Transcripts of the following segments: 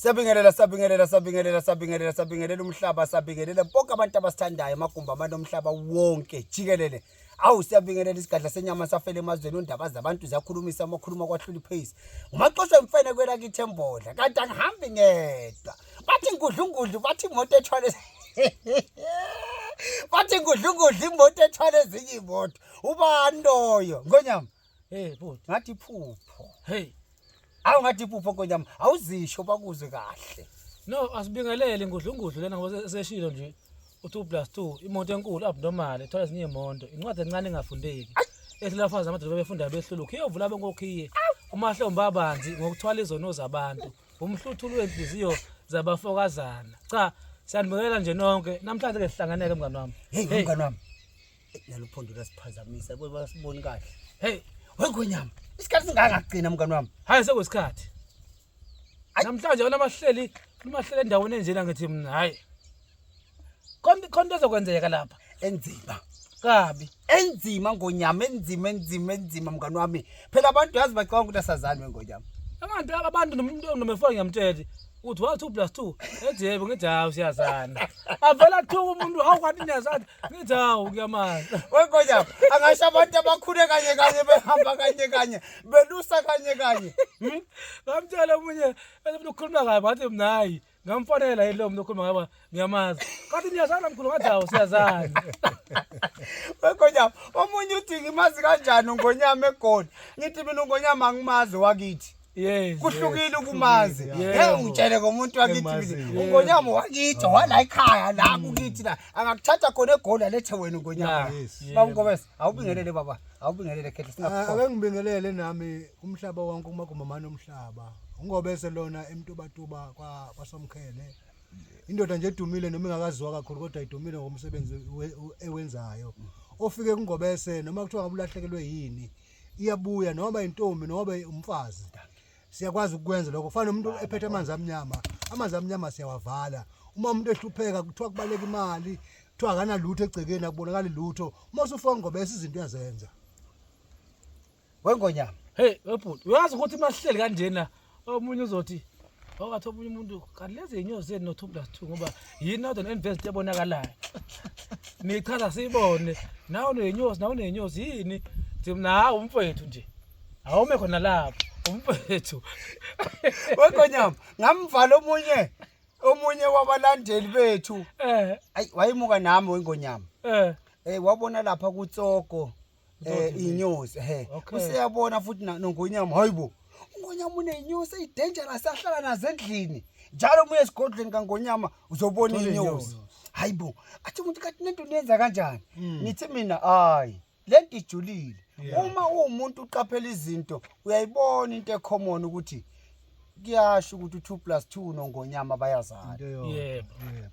Siyabingelela siyabingelela siyabingelela siyabingelela siyabingelela umhlaba siyabingelela bonke abantu abasithandayo amagumbi abantu omhlaba wonke jikelele awu siyabingelela isigadla senyama safela emazweni undaba zabantu ziyakhulumisa amakhuluma kwahlula iphase umaxosha emfene kwela kithi embodla kanti angihambi ngedwa bathi ngudlungudlu bathi imoto ethwale bathi ngudlungudlu imoto ethwale ezinye imoto ubani loyo ngonyama Hey bhuti. Ngathi iphupho. Hey. Awu ngathi iphupho nkoyami. Awuzisho bakuzwe kahle. No, asibingelele ngudlungudlu lena ngoba seshilo nje. Uthi plus 2 imoto enkulu abnormal ethola ezinye imoto. Incwadi encane engafundeki. Esilafaza amadoda befunda behlulukhe. Iyovula benkokhiye. Umahlomba abanzi ngokuthwala izono zabantu. Umhluthulu wenhliziyo zabafokazana. Cha, siyanibingelela nje nonke. Namhlanje ke sihlanganeke mngani wami. Hey mngani wami. naluphondo lasiphazamisa kuba basiboni kahle hey wegonyama isikhathi singangagcina mngani wami hayi sekwesikhathi namhlanje wena mahleli umahleli endaweni enjena ngithi mina hayi konke konke ezokwenzeka lapha enzima kabi enzima ngonyama enzima enzima enzima mngani wami phela abantu yazi bacabanga ukuthi asazani wengonyama abantu abantu nomuntu nomefo ngiyamtshela uthi wa 2 plus 2 ethi yebo ngithi hawu siyazana avela kuthiwa umuntu hawu kanti niyazana ngithi hawu kuyamali wegonya angasho abantu abakhule kanye kanye behamba kanye kanye belusa kanye kanye hmm? ngamtshela omunye efuna ukukhuluma kabi wathi mna hayi ngamfonela yilo mntu okhuluma ngaba ngiyamazi kathi niyazana mkhulu ngathi hawu siyazana wegonyama omunye uthi ngimazi kanjani ungonyama egoli ngithi mina ungonyama angimazi wakithi Yes. Kuhlukile ukumazi. Ngeke ungitshele ngomuntu wakithi mina. Ungonyama wakithi wala ekhaya la mm. kukithi la. Angakuthatha khona egoli alethe wena ungonyama. Baba Ngobese, awubingelele baba. Awubingelele khethe singakho. Ake ngibingelele nami umhlaba wonke uma kumamana umhlaba. Ungobese lona emtubatuba kwa kwaSomkhele. Indoda nje edumile noma ingakaziwa kakhulu kodwa idumile ngomsebenzi ewenzayo. Ofike kungobese noma kuthiwa ngabulahlekelwe yini. iyabuya noma intombi noma umfazi siyakwazi ukwenza lokho kufana umuntu ephethe amanzi amnyama amanzi amnyama siyawavala uma umuntu ehlupheka kuthiwa kubaleka imali kuthiwa akanalutho egcekeni akubonakali lutho uma usufona ngoba esizinto uyazenza wengonyama hey webhuti uyazi ukuthi mahleli kanjena omunye uzothi owathi omunye umuntu kanti lezi zinyosi zenu no2 plus 2 ngoba yini northern invest ebonakalayo nichaza siyibone nawe unenyosi nawe unenyosi yini thim nawe umfowethu nje awume khona lapho umfowethu wegonyama ngamvala omunye omunye wabalandeli bethu eh ayi wayemuka nami wengonyama eh eh wabona lapha kutsoko eh inyosi he Okay. useyabona futhi na- nongonyama hayibo ungonyama unenyosi eyidangerous ahlala nazo endlini njalo uma uye esigodlweni kangonyama uzobona Uthola inyosi inyosi. hayibo athi umuntu kathi nento niyenza kanjani Mm. ngithi mina hayi le nto ijulile Yeah. uma uwumuntu uqaphela izinto uyayibona into ecommon ukuthi kuyasho ukuthi u-two plus two nongonyama bayazana Into eyodwa. Yebo. Yebo.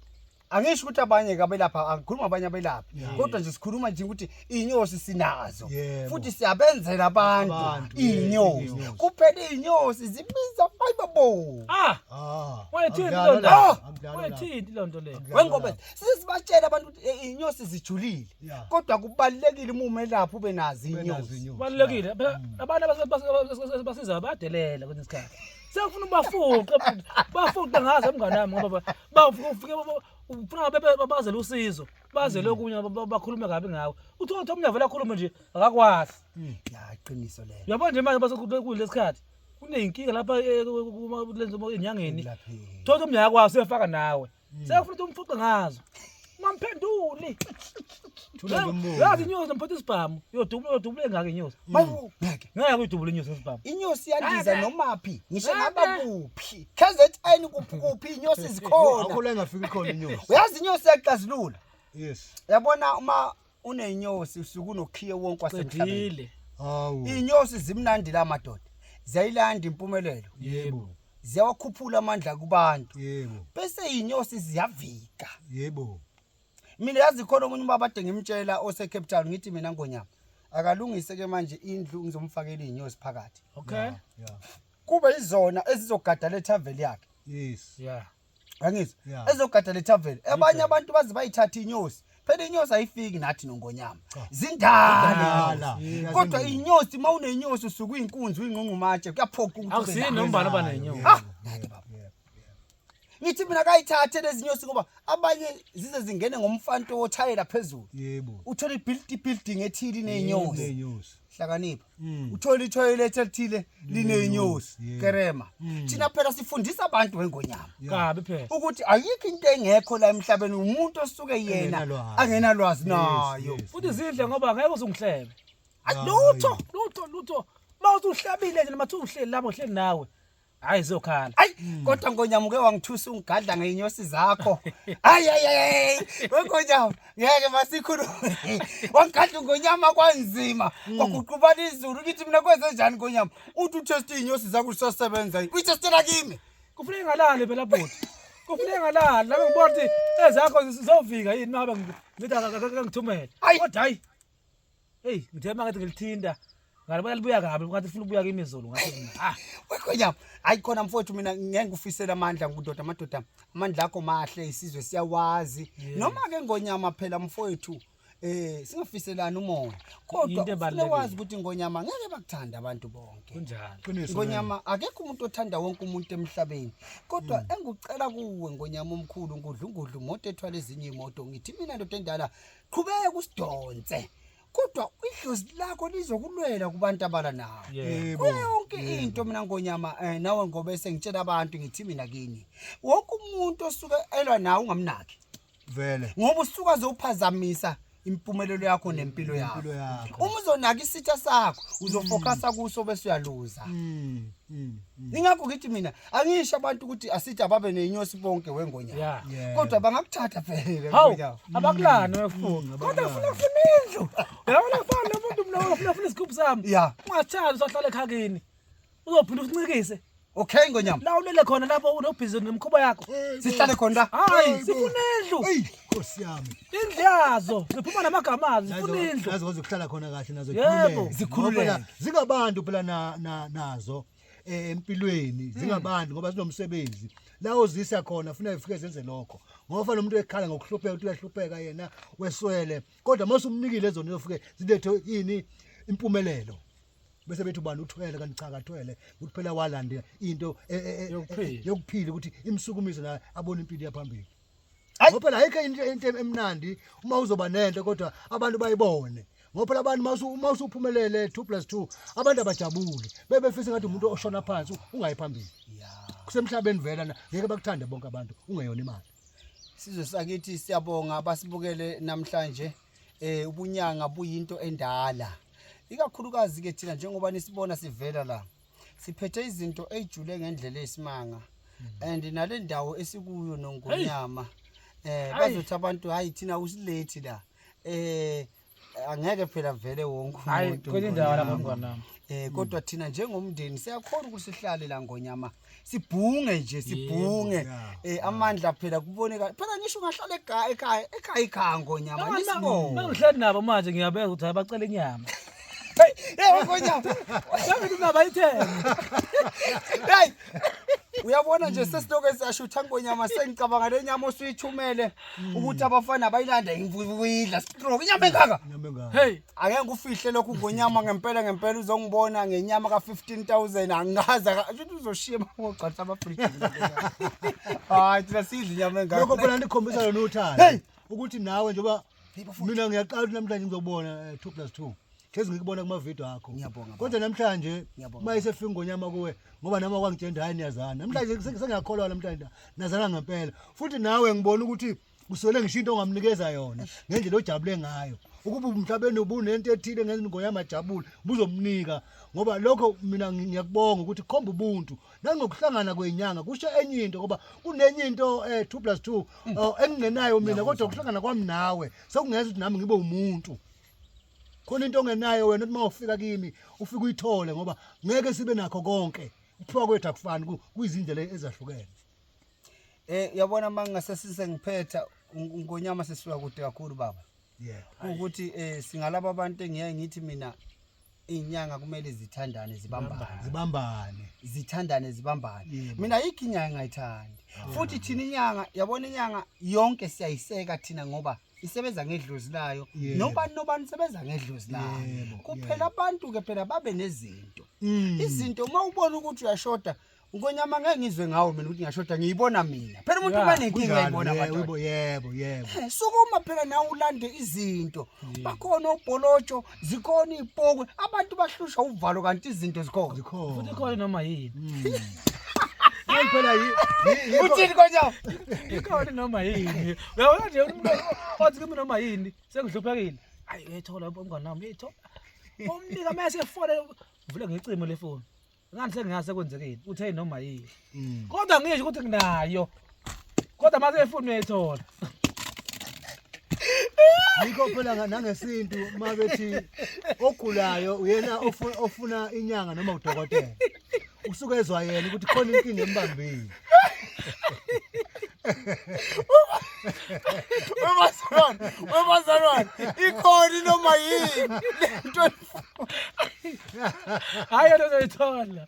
angisho ukuthi abanye kabelapha angikhuluma abanye abelaphi Yeah. kodwa nje sikhuluma nje ukuthi iy'nyosi sinazo Yebo. futhi siyabenzela abantu Abantu, yes, iy'nyosi iy'nyosi. kuphela iy'nyosi zibiza ayibabo Ah, Ah, Wayethini angidlalo loo nto? la, Ah! angidlalo la. wayethini loo nto leyo. Angidlalo la. wengobe sesibatshela abantu ukuthi eh, iy'nyosi zijulile Yeah. kodwa kubalulekile uma umelaphi ube nazo Benazo iy'nyosi inyosi. Kubalulekile. Phela Mm. Abantu abase- base- base- base- basizayo bayadelela kwesinye isikhathi. Sengifuna ubafuqe, bafuqe ngazo mngane wami ngoba ba- bafike ufike ufuna ngabe bazele usizo bazele mm. okunye bakhulume kabi ngawe uthi othi omunye avela akhulume nje akakwazi mm, ya iqiniso lelo yabo nje manje basekule sikhathi kuneyinkinga lapha eh, lenzo enyangeni thothi omunye akwazi uyafaka nawe mm. sekufuna ukuthi umfuqe ngazo ungamphenduli Thula lo mbuzo. yazi inyosi nomphetha isibhamu yodubula yodubula engaka inyosi Bawu, ngeke ngeke uyidubule inyosi ngesibhamu inyosi yandiza Ngeke. nomaphi ngisho Ngeke. ngaba kuphi kzn kuphi kuphi inyosi zikhona Akula engafiki khona inyosi. uyazi inyosi yakuxazilula Yes. yabona uma unenyosi usuke unokhiye wonke wasemhlabeni hawu inyosi zimnandi la madoda ziyayilanda impumelelo yebo ziyawakhuphula amandla kubantu yebo bese inyosi ziyavika yebo mina yazi khona omunye ubaba ade ngimtshela osecape town ngithi mina ngonyama akalungise ke manje indlu ngizomfakela iy'nyosi phakathi okay kube izona ezizogada le thaveli yakhe yes yeah angizi yeah. ezogada le tavern abanye abantu baze bayithatha inyosi phela inyosi ayifiki nathi nongonyama zindala kodwa inyosi uma unenyosi usuke uyinkunzi uyinqunqumatshe kuyaphoqa ukuthi akusinombana banenyosi ah nani baba ngithi mina kayithathe lezinyosi ngoba abanye zize zingene ngomfanto wothayela phezulu yebo uthola ibuilding ethile inenyosi hlakanipha Mm. uthole ithoyilet elithile linenyosi Yeah. kerema Mm. thina phela sifundisa abantu wengonyama kabi phela ukuthi ayikho into engekho la emhlabeni umuntu osuke yena Engenalwazi. angenalwazi Yes, nayo yes. futhi zidle ngoba ngeke uzungihlebe Ay, lutho lutho lutho uma usuhlabile nje noma uhleli lapho uhleli nawe hayi zokhala ayi kodwa ngonyama uke wangithusa ungigadla ngeyinyosi zakho ayi ayi ayi ngonyama ngeke masikhulume wangigadla ngonyama kwanzima hmm. kwaguqubana izulu kithi mina kwenze njani ngonyama uthi utest inyosi zakho usasebenza yini uyitestela kimi kufuneka ngalale phela bhuti kufuneka ngalala lami ngibona ukuthi ezakho zizovika yini mabe ngithi akangithumele kodwa hayi Hey, ngithe mangathi ngilithinta. Ngalibona libuya kabi, ngathi ufuna ukubuya kimi izolo ngathi mina. Ah, Wekhwenyama, hayi khona mfowethu mina ngeke ngikufisele amandla ngudoda amadoda. Amandla akho mahle isizwe siyawazi. Yeah. Noma ke ngonyama phela mfowethu eh singafiselani umoya. Kodwa Yinto ufune ebalulekile. wazi ukuthi ngonyama ngeke bakuthanda abantu bonke. kunjani? Qiniso. Ngonyama akekho umuntu othanda wonke umuntu emhlabeni. Kodwa engikucela kuwe ngonyama omkhulu ngudlungudlu moto ethwala ezinye imoto ngithi mina ndoda endala qhubeka usidonse kodwa idlozi lakho lizokulwela kubantu abala nawo Yebo. kuyo yonke into mina ngonyama eh, nawe ngoba esengitshela abantu ngithi mina kini wonke umuntu osuke elwa nawe ungamnaki vele ngoba usuke azophazamisa impumelelo yakho nempilo yakho impilo yakho uma uzonaka isitha sakho uzofocusa kuso bese uyaluza Mm, mm, mm. ingakho ngithi mina angisho abantu ukuthi asithi ababe neyinyosi bonke wengonyama Yeah. Yeah. kodwa bangakuthatha phela Hawu, wengonyama. abakulani wefuna. Kodwa ufuna ufuna indlu. Yabona ufana nomuntu mina ufuna ufuna isigubhu sami. Yeah. Ungathanda usahlale ekhakini. Uzophinda usincikise. okay ngonyama La ulele khona lapho unobhizi nemkhuba yakho. sihlale khona la Hayi, sifuna indlu. eyi nkosi yami Indlu yazo. Ziphuma namagama azo, zifuna indlu. nazo kwazi ukuhlala khona kahle nazo Yebo. zikhululeke. Ngoba phela zingabantu phela na- na- nazo eh, empilweni hmm. zingabantu ngoba zinomsebenzi la uzisa khona funa ifike zenze lokho ngoba nomuntu ekhala ngokuhlupheka ukuthi uyahlupheka yena weswele kodwa mase umnikile zona uzofike zilethe ini impumelelo bese bethu bani uthwele kanti cha kathwele ukuthi phela walande into e, e, e, yokuphila ukuthi imsukumise la abone impilo yaphambili ngoba phela ayikho into into emnandi uma uzoba nento kodwa abantu bayibone ngoba phela abantu masu uma usuphumelele 2+2 abantu abajabuli bebefisa ngathi umuntu oshona phansi ungayi phambili kusemhlabeni vela ngeke bakuthande bonke abantu ungeyona imali sizwe sakithi siyabonga basibukele namhlanje eh ubunyanga buyinto endala ikakhulukazi ke thina njengoba nisibona sivela la siphethe izinto ey'jule ngendlela eyisimanga and nale ndawo esikuyo nongonyama eh bazothi abantu hayi thina usilethi la eh angeke phela vele wonke umuntu kodwa thina njengomndeni siyakhona ukuthi sihlale la ngonyama sibhunge nje sibhunge Yebo, ya. eh amandla phela kuboneka phela ngisho ungahlala ekhaya ekhaya ekhaya ikhango nyama Noma nisibonge ngihleli nabo manje ngiyabeka ukuthi abacela inyama hey ngonyama Ngihleli inaba ithenge hey uyabona nje sesiloke siyashutha ngonyama sengicabanga le nyama osuyithumele ukuthi abafana bayilanda imvuyidla stroke inyama engaka Nyama engaka. hey Ake ngikufihle lokhu ngonyama ngempela ngempela uzongibona ngenyama ka 15000 angikaza ukuthi uzoshiya ngogcatha ama fridge. Hayi thina sidla inyama engaka. Lokho phela ndikhombisa lona uthando. Hey! Ukuthi nawe njengoba mina ngiyaqala ukuthi namhlanje ngizobona 2 plus 2. Hlezi ngikubona kuma video akho. Ngiyabonga, baba. Kodwa namhlanje Ngiyabonga. uma isefika ngonyama kuwe ngoba nama kwangitshenda hayi niyazana. Namhlanje sengiyakholwa namhlanje nazana ngempela. Futhi nawe ngibona ukuthi uswele ngisho into ongamnikeza yona ngendlela ojabule ngayo ukuba umhlabeni ubunento ethile ngezingo yamajabule buzomnika ngoba lokho mina ngiyakubonga ukuthi khomba ubuntu nangokuhlangana kwenyanga kusho enye into ngoba kunenye into eh 2 plus 2 mm. oh, engingenayo mina kodwa ukuhlangana kwami nawe sekungenza ukuthi nami ngibe umuntu khona into ongenayo wena uma ufika kimi ufike uyithole ngoba ngeke sibe nakho konke ukuthiwa kwethu akufani kuyizindlela ezahlukene Eh yabona mangase size ngiphetha ngonyama sesiwa kude kakhulu baba. Yeah. Ukuthi eh singalabo abantu engiyaye ngithi mina inyanga kumele zithandane zibambane. Zibambane. Zithandane zibambane. Yeah, baba. Mina yikho inyanga engayithandi. Futhi thina inyanga yabona inyanga yonke siyayiseka thina ngoba isebenza ngedlozi layo. Yebo. Nobani nobani isebenza ngedlozi layo. Yebo, Kuphela abantu ke phela babe nezinto. Mm. Izinto uma ubona ukuthi uyashoda Ngonyama ngeke ngizwe ngawo mina ukuthi ngyashoda ngiyibona mina. Phela umuntu Yeah, ubanenkinga kunjalo, ayibona yebo, madoda. yebo, yebo, yebo. Eh, Sukuma phela nawe ulande izinto. Bakhona obholotsho, zikhona izipokwe. Abantu bahlushwa uvalo kanti izinto zikhona. Zikhona. futhi khona noma yini Yini phela yi- yi- yikho- Uthini konyawo? ikhona noma yini uyabona nje umuntu othi kimi noma yini sengihluphekile ayi uyayithola umngane wami uyayithola umnika uma esefone vule ngecingo lefoni ngani sengingase kwenzekeni uthe noma yini mm. kodwa ngisho ukuthi nginayo kodwa mase efuni uyayithola yikho phela nangesintu uma bethi ogulayo uyena ofuna inyanga noma udokotela usuke ezwa yena ukuthi khona inkinga embambile wemazalwane wemazalwane ikhona inoma yini hayi yena uzoyithola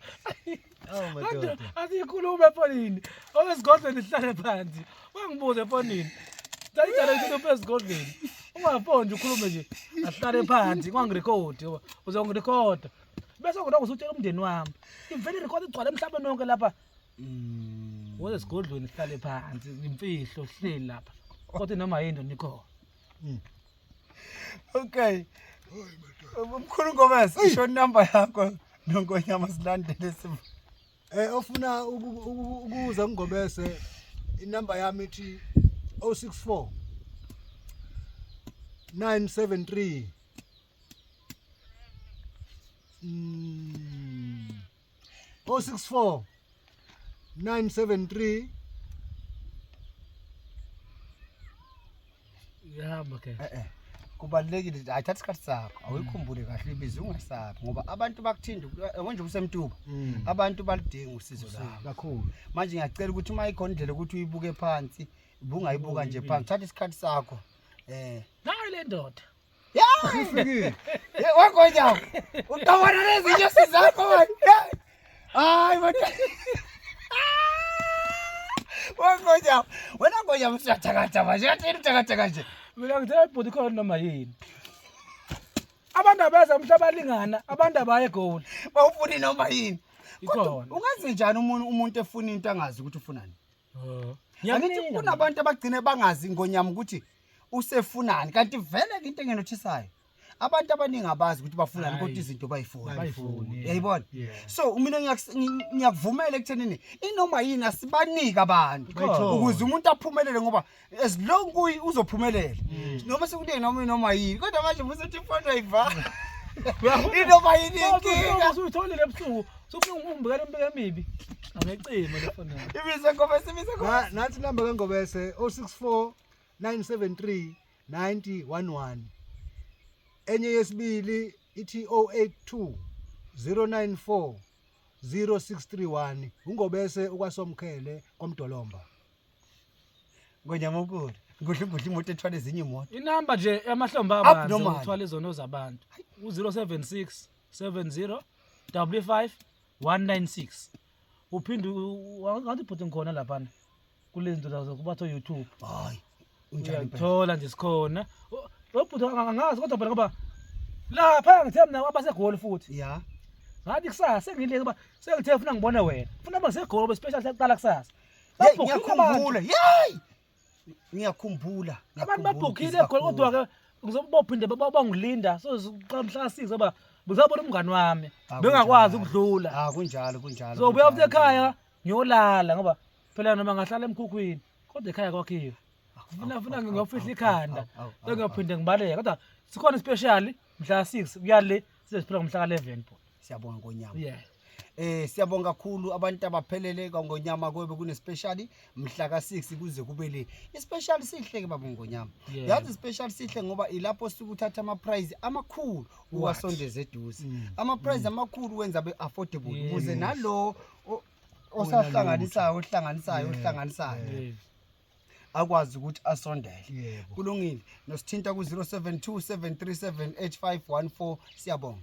asiyikhulume efonini owezigodlweni sihlale phansi wangibuze efonini ndayidala ukuthi uphe ezigodlweni ungafoni nje ukhulume nje ahlale phansi kwangirekhodi uzongirekhoda bese ngilokho usutshela umndeni wami ivele irekhodi igcwale emhlabeni wonke lapha mm. woze esigodlweni sihlale phansi imfihlo sihleli lapha kodwa noma yini nikhona mm. Okay. Umkhulu Gomez, isho number yakho nonkonyama silandele simo. Eh ofuna ukuza ngigobese inamba yami ithi 064 973 mm 064 973 yahamba ke eh eh kubalekile hayi thatha isikhathi sakho awuyikhumbule kahle ibizo ungasabi ngoba abantu bakuthinda konje kusemtuba Mm. abantu balidinga usizo labo kakhulu manje ngiyacela ukuthi uma ikhona indlela ukuthi uyibuke phansi bungayibuka nje phansi thatha isikhathi sakho eh nayo le ndoda Ufikile. Ye- Wagonya. Uqabana nezinyosi zakho manje. Ye. Hayi manje. Wagonya. Wena gonya usuyathakatha manje. Yathi yini uthakatha nje. Mina ngithe bhuti khona noma yini. Abantu abeza umhlaba lingana, abantu abaye goal. Bawufuni noma yini. Kodwa Ikhona. ungaze njani umuntu umuntu efuna into angazi ukuthi ufunani. Oh. Angithi kunabantu abagcine bangazi ngonyama ukuthi usefunani kanti vele ke into engenothisayo abantu abaningi abazi ukuthi bafunani kodwa izinto bayifuna yayibona so mina ngiyakuvumela ekuthenini inoma yini asibanike abantu ukuze umuntu aphumelele ngoba as long kuyi uzophumelela mm. noma sekune noma noma yini kodwa manje musethi ifoto ayivala inoma yini inkinga usuyitholile ebusuku sokufuna umbukela impilo emibi angecimo lefoni ibize ngobese ibize ngobese nathi number kangobese 064 973 9011 enye yesibili ithi 082 094 0631 ungobese ukwasomkhele komdolomba ngonyamukulu ngidla ngidla imoto ethwala ezinye imoto inamba nje yamahlombe abantu ukuthwala izono zabantu u-076 70 55 196 uphinde ngathi bhuti ngikhona laphana kulezi zinto zazo kubatho youtube hayi uyathola nje sikhona lo bhuti angazi kodwa phela ngoba lapha ngithe mina abasegoli futhi ya ngathi kusasa sengileke uba sengithe funa ngibone wena funa abasegoli special sekuqala kusasa Hey, Babhukhile abantu. ngiyakhumbula yeyi ngiyakhumbula abantu babhukhile khona kodwa-ke ngizobophinde bangilinda soziqala mhla size uba ngizabona umngani wami Ah, bengakwazi kunjalo. ukudlula Ah, kunjalo kunjalo so buya futhi kunjalo. ekhaya ngiyolala ngoba phela noma ngahlala emkhukhwini kodwa ekhaya kwakhiwe funa funa ngingofihla ikhanda Awu, awu, awu, awu. engiyophinde ngibaleke kodwa sikhona ispeshali mhla six kuyale size siphela ngomhla ka-11 bhuti siyabonga ngonyama yeah Eh siyabonga kakhulu abantu abaphelele ngonyama kwebe kune special mhla ka6 kuze kube le. I special sihle ke baba ngonyama. Yazi special sihle ngoba ilapho sikuthatha ama prize amakhulu uwasondeze eduze. Mm. Ama prize mm. amakhulu wenza be affordable ukuze nalo osahlanganisayo ohlanganisayo ohlanganisayo. akwazi ukuthi asondele Yebo. kulungile nosithinta ku 0727378514 siyabonga